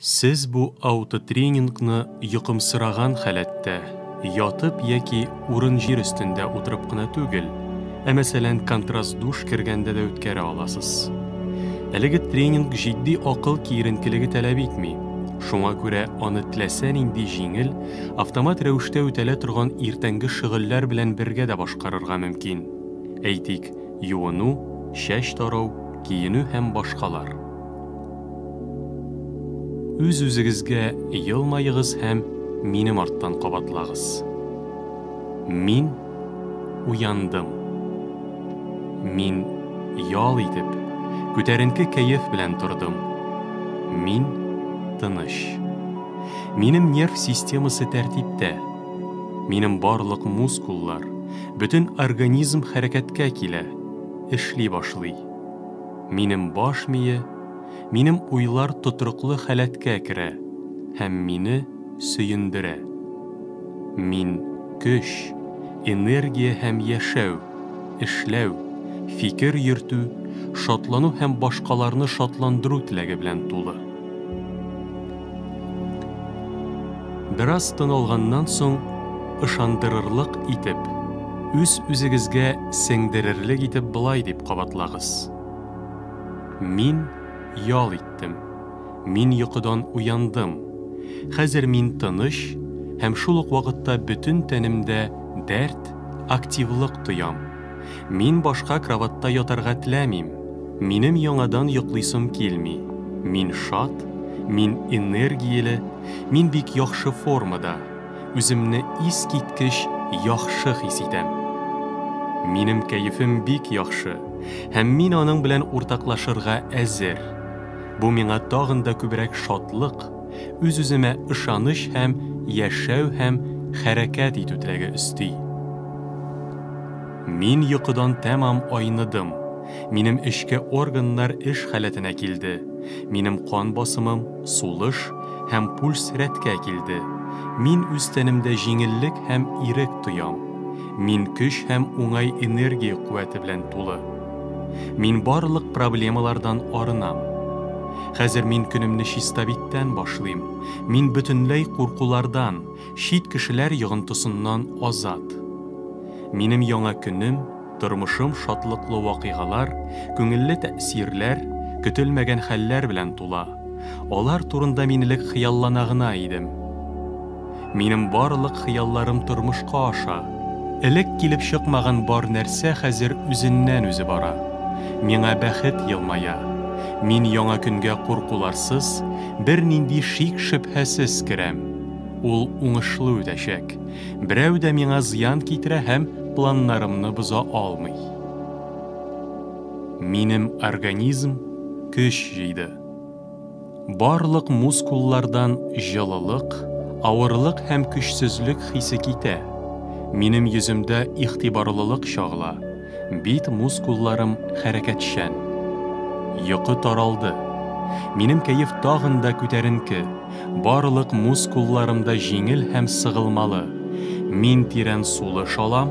Сез бу аутотренингны йокымсыраган халәттә, ятып яки урын-җир өстендә утырып кына түгел, ә мәсәлән контраст-душ кергәндә дә үткәрә аласыз. Әлеге тренинг җитди акыл киеренкелеге таләп итми, шуңа күрә аны теләсә нинди җиңел, автомат рәвештә үтәлә торган иртәнге шөгыльләр белән бергә дә башкарырга мөмкин, әйтик, юыну, чәч тарау, киенү һәм башкалар. Үз-үзегезгә елмаегыз һәм минем арттан кабатлагыз. Мин уяндым. Мин ял итеп, күтәренке кәеф белән тордым. Мин тыныч. Минем нерв системасы тәртиптә. Минем барлык мускуллар, бөтен организм хәрәкәткә килә, эшли башлый. Минем баш мие, минем уйлар тотрыклы халәткә керә һәм мине сөендерә. Мин, көч, энергия һәм яшәү, эшләү, фикер йөртү, шатлану һәм башкаларны шатландыру теләге белән тулы. Бераз тын алганнан соң, ышандырырлык итеп, үз-үзегезгә сеңдерерлек итеп болай дип кабатлагыз. Мин ял иттем. Мин йокыдан уяндым. Хәзер мин тыныч һәм шул ук вакытта бөтен тәнемдә дәрт, активлык тоям. Мин башка кроватьта ятарга теләмим. Минем яңадан йоклыйсым килми. Мин шат, мин энергияле, мин бик яхшы формада, үземне искиткеч яхшы хис итәм. Минем кәефем бик яхшы, һәм мин аның белән уртаклашырга әзер. Бу миңа тагын да күбрәк шатлык, үз-үземә ышаныч һәм яшәү һәм хәрәкәт итү теләге өсти. Мин йокыдан тәмам айныдым. Минем эчке органнар эш халәтенә килде. Минем кан басымым, сулыш һәм пульс рәткә килде. Мин үз тәнемдә җиңеллек һәм ирек тоям. Мин көч һәм уңай энергия куәте белән тулы. Мин барлык проблемалардан арынам. Хәзер мин көнемне чистабиттән башлыйм. Мин бөтенләй куркулардан, чит кешеләр йогынтысыннан азат. Минем яңа көнем, тормышым шатлыклы вакыйгалар, күңелле тәэсирләр, көтелмәгән хәлләр белән тула. Алар турында мин элек хыяллана гына идем. Минем барлык хыялларым тормышка аша. Элек килеп чыкмаган бар нәрсә хәзер үзеннән-үзе бара. Миңа бәхет елмая. Мин яңа көнгә куркуларсыз, бернинди шик-шөбһәсез керәм. Ул уңышлы үтәчәк. Берәү дә миңа зыян китерә һәм планнарымны боза алмый. Минем организм көч җыйды. Барлык мускуллардан җылылык, авырлык һәм көчсезлек хисе китә. Минем йөземдә игътибарлылык чагыла, бит мускулларым хәрәкәтчән. Йокы таралды. Минем кәеф тагын да күтәренке, барлык мускулларым да җиңел һәм сыгылмалы. Мин тирән сулыш алам.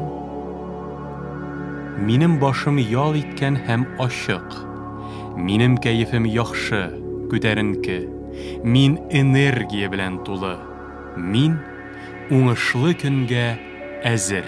Минем башым ял иткән һәм ачык. Минем кәефем яхшы, күтәренке. Мин энергия белән тулы. Мин уңышлы көнгә әзер.